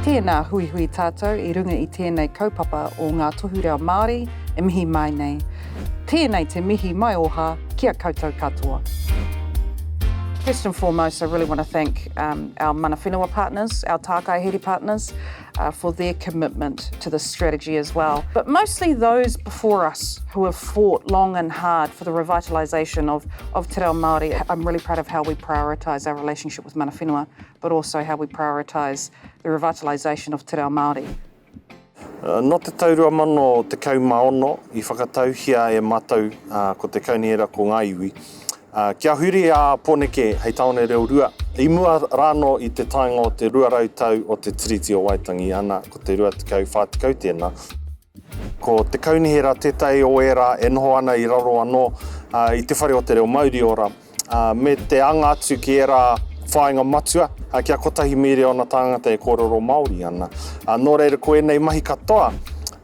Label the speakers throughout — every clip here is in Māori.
Speaker 1: Tēnā, huihui tātou i runga i tēnei kaupapa o Ngā Tohu Reo Māori e mihi mai nei. Tēnei te mihi maioha ki a koutou katoa. First and foremost, I really want to thank um, our mana whenua partners, our tākai here partners, uh, for their commitment to this strategy as well. But mostly those before us who have fought long and hard for the revitalisation of, of Te Reo Māori. I'm really proud of how we prioritise our relationship with Mana Whenua, but also how we prioritise the revitalisation of Te Reo Māori. Uh,
Speaker 2: no te tau rua mano te kau maono i whakatauhia e matou uh, ko te kauniera ko ngā iwi Kia huri a Poneke hei taone reo rua, i mua rāno i te taenga o te 200 tau o te Tiriti o Waitangi, ana, ko te 20, 40 tēnā. Ko te kaunihera tētahi o ērā e noho ana i raro anō i Te Whare o te Reo Mauriora, me te anga atu ki ērā whāinga matua, kia kotahi mīriona tāngata e kōrero Māori ana. Ā, nō reira ko ēnei mahi katoa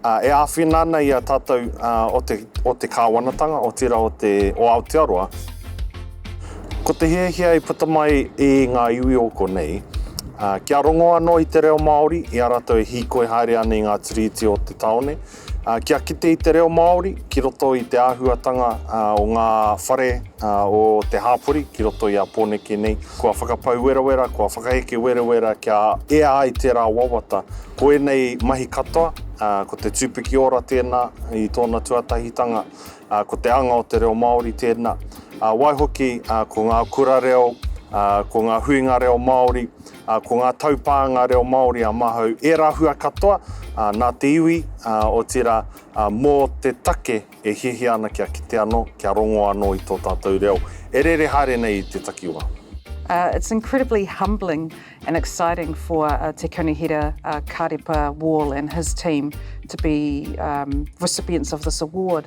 Speaker 2: e āwhina ana i a tātou o te, o te Kāwanatanga, otirā o te, o Aotearoa. Ko te hiahia i puta mai i ngā iwi o konei, kia rongo anō i te reo Māori, i a rātou e hīkoi haere ana i ngā tiriti o te tāone, Kia kite i te reo Māori ki roto i te āhuatanga o ngā whare o te hāpori ki roto i a Pōneke nei, kua whakapau werawera, kua whakaheke werawera kia ea ai tērā wawata. Ko ēnei mahi katoa, ko te tūpiki ora tēnā i tōna tuatahitanga, ko te anga o te reo Māori tēnā. Waihoki, ko ngā kura reo, ko ngā huinga reo Māori, Ko ngā taupānga reo Māori a Mahau ērā hua katoa nā te iwi, otirā mō te take e hiahia ana kia kite anō, kia rongo anō i tō tātou reo e rere haere nei i te takiwā. It's
Speaker 1: incredibly humbling and exciting for Te Kaunihera Karepa Wall and his team to be recipients of this award.